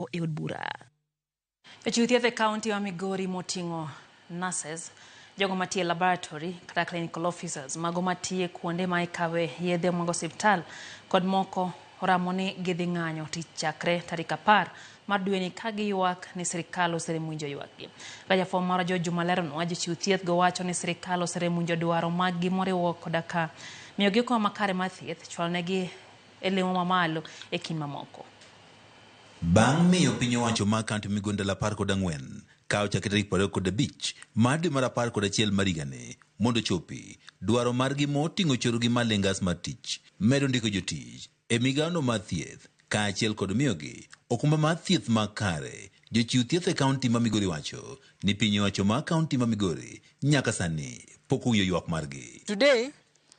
oko e od bura. Jochiw thieth e kaunti ma Migori moting'o nurses, jogo matiyo e laboratory kata clinical officers, mago matiyo e kuonde ma ikawe yedhe mag osiptal kod moko oramo ni gidhi ng'anyo tich chakre tarik apar mar dweni ka giywak ni sirkal oserem winjo ywakgi. Ka jafwambo marwa George Juma leronwa, jochiw thieth go wacho ni sirkal oserem winjo dwaro maggi moriwo koda ka miyogi okombe makare mar thieth, chwalonegi e lemo ma malo e kind mamoko. Bang' miyo piny owacho ma kaunti migondal apar kod ang'wen ka ochakre tarik piero ariyo kod abich mar dwe mar apar kod achiel mar higani mondo ochopi dwaro margi moting'o chorogi mar lengas mar tich, medo ndiko jotich e migawono mar thieth kaachiel kod miyogi okumba mar thieth makare, jochiw thieth e kaunti ma Migori wacho ni piny owacho ma kaunti ma Migori nyaka sani pok owinjo ywak margi. Today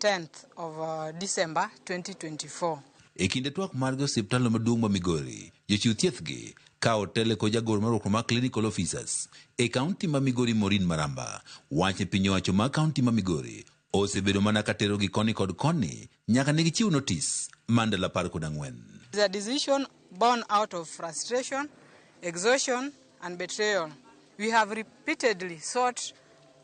10th of uh, December 2024. E kinde twak margi e osiptandno maduong' ma Migori, jochiw thiethgi ka otele kod jagoro mar riwruok mar Clinical Officers e kaunti ma Migori Maureen Maramba wacho ni piny owacho ma kaunti ma Migori osebedo mana ka terogi koni kod koni nyaka ne gichiw notis mar ndalo apar kod ang'wen. It's a decision born out of frustration, exhaustion and betrayal. We have repeatedly sought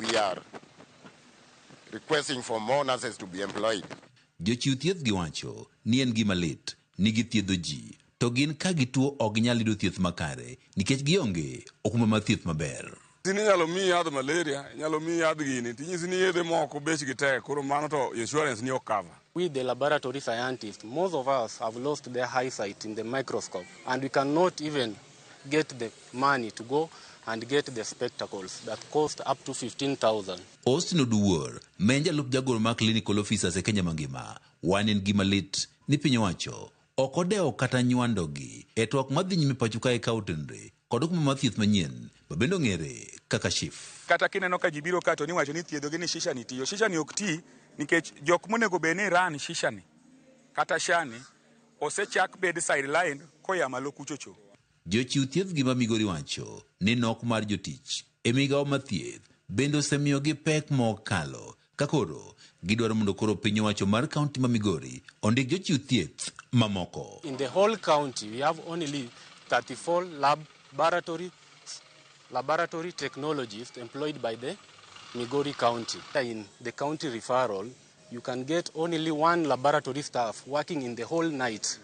We are requesting for more nurses to be employed. Jochiw thieth gi wacho ni en gima lit ni githiedho ji to gin ka gituo ok ginyal yudo thieth makare nikech gionge okumba mar thieth maber. Sini inyalo miyi yadh malaria, inyalo miyi yadh gini, tinyisi ni yedhe moko bechgi tek, koro mano to insurance ni ok cover. We the laboratory scientists, most of us have lost the eyesight in the microscope and we cannot even get the money to go and get the spectacles that cost up to 15,000. Austin Oduwor, ma en jalup jagoro mar Clinical Officers e Kenya mangima, wan en gima lit ni piny owacho Ok odewo kata nywando gi. E twak madhi nyime pacho kae ka otenre kod okumba mar thieth manyien ma bende ong'ere kaka SHIF. Kata kineno ka ji biro ka to ni wacho ni ithiedho gi ni shisha ni tiyo. Shisha ni ok ti nikech jok monego bed ni run shisha ni kata sha ni osechak bed sidelined koya malo kuchocho. Jochiw thiethgi ma Migori wacho ni nok mar jotich e migao ma thieth bende osemiyogi pek ma ok kalo ka koro gidwaro mondo koro piny owacho mar kaunti ma Migori ondik jochiw thieth mamoko. In the whole county we have only 34 lab baratory laboratory technologists employed by the Migori county in the county referral. You can get only one laboratory staff working in the whole night,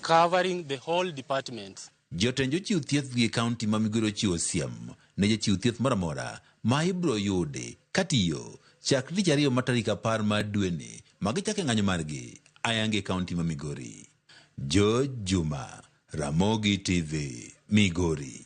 covering the whole department. Jotend jochiw thieth gi kaunti ma migwero ochiwo siem ne jachiw thieth moro amora ma ibiro yudi katiyo chakre tich ariyo mar tarik apar mar dweni ma gichake ng'anyo margi ayanga e kaunti ma Migori. George Juma, Ramogi TV, Migori.